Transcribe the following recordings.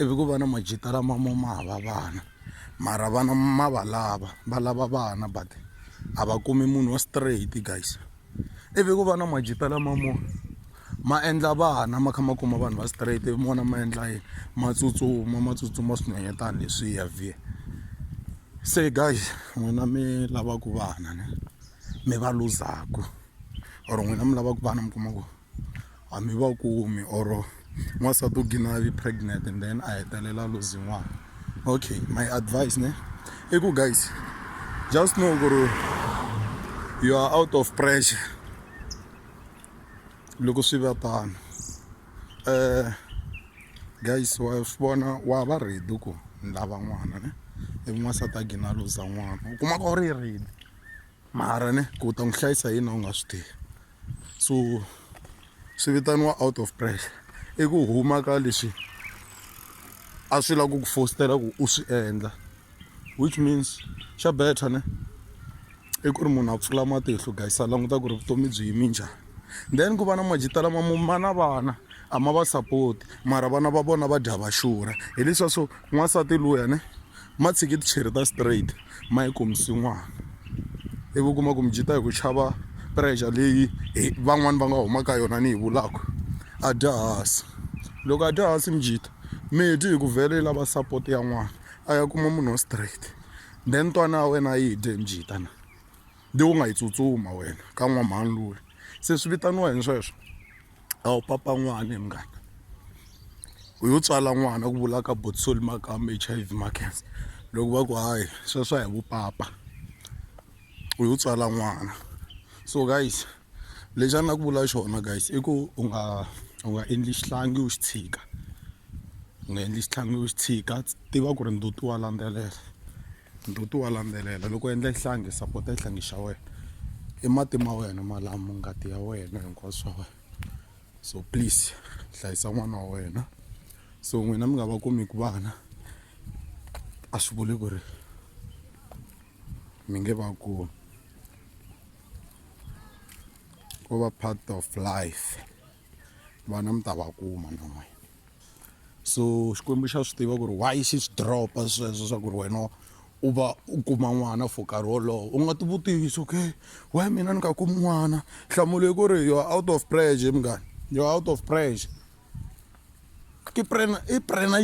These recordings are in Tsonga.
ivi ku va na majita lama mo ma hava vana mara vana ma va lava va lava vana but a va kumi munhu wa straight guys ivi ku va na majita lama mo ma endla vana ma kha ma kuma vanhu va straight ivi mona ma endla yini ma tsutsuma ma tsutsuma swinonyetana leswiya vhiya se guys n'wina mi lavaku vana ne mi va luzaku or n'wina mi lavaku vana mi kuma ku a mi va kumi or n'wansati u gina yi pregnant and then a hetelela lozi n'wana okay my advice ne i ku guys just know ku ri you are out of pressure loko swi va tano um guys wa swi vona wa va ready ku ni lava n'wana ne ivi n'wansati a gina loza n'wana u kuma ku a wu ri ready. mara ne ku u ta n'wi hlayisa yini u nga swi tivi so swi vitaniwa out of pressure i ku huma ka leswi a swi lava ku ku fostela ku u swi endla which means xa better ne i ku ri munhu a pfula matihlo guys a languta ku ri vutomi byi yimi njhani then ku va na majita lama ma na vana a ma va support mara vana va vona va dya va xurha hi leswiya swo N'wansati luya ne ma tshiki ticheri ta straight ma yi kombisi n'wana ivi u kuma ku mi byi ta hi ku chava pressure leyi hi van'wani va nga humaka yona ni yi vulaku a dya hansi loko a dya hansi mi jita mi dyi hi ku vhele yi lava support ya n'wana a ya kuma munhu wa straight then twana ya wena a yi dye mi jita na leyi u nga yi tsutsuma wena ka n'wamhani luya se swi vitaniwa yini sweswo. a wu papa n'wana munghana u yo tswala n'wana ku vula ka botsol makamba H_I_V makhensa loko va ku hayi sweswo hi vupapa u yo tswala n'wana so guys lexi a ni la ku vula xona guys i ku u nga u nga endli xihlangi u xi tshika u nga endli xihlangi u xi tshika tiva ku ri ndzutiwa landzelela Ndzhuti wa landzelela loko u endla xihlangi sapota xihlangi xa wena i mati ma wena malamu ngati ya wena hinkwaswo swa wena so please hlayisa n'wana wa wena so n'wina mi nga va kumiki vana a swi vuli ku ri mi nge va kumi ko va part of life. vana mi ta va kuma na n'wina so xikwembu xa swi tiva ku ri why xi swi dropa sweswo swa ku ri wena u va u kuma n'wana for nkarhi wolowo u nga tivutisi okay why mina ni nga kumi n'wana nhlamulo yi ku ri you're out of pressure munghana you're out of pressure i prena i prena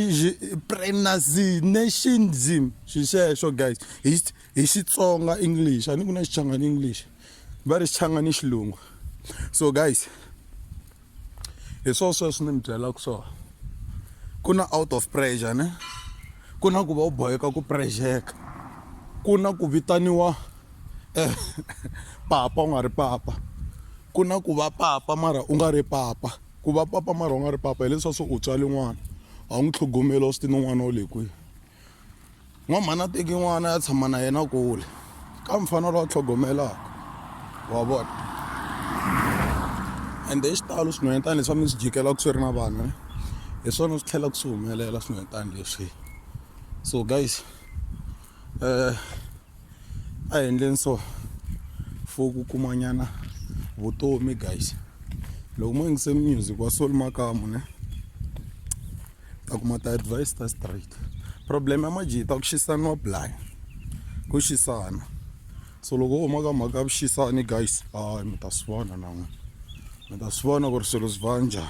prenationism xi xexo guys hi hi xitsonga english a ni ku na xichangani english va ri xichanga ni xilungu so guys hi swo sweswi ni mi byelaka swona ku na out of pressure ne ku na ku va u boheka ku pressure-ka ku na ku vitaniwa eh, papa u nga ri papa ku na ku va papa mara u nga ri papa ku va papa mara u nga ri papa hileswa swo u tswale n'wana a wu n'wi tlhogomeli wa swi ti ni n'wana wa le kwihi n'wamhani a teki n'wana ya tshama na yena kule ka mufana lowa tlhogomelaka wa vona ende hi xitalo swinhwanyetana leswi a mi swi jikelaka swi ri na vanhu eh. hi swona swi tlhelaka swi humelela swinhwanyetana leswi so guys um a hi endleni so for ku kumanyana vutomi guys loko mo yingise music wa soul makamu ne ta kuma ti advise ta straight problem ya majita ku xisaniwa blind ku xisana so loko u huma ka mhaka ya vuxisani guys hayi mi ta swi vona na n'wina mi ta swi vona ku ri swilo swi va njhani.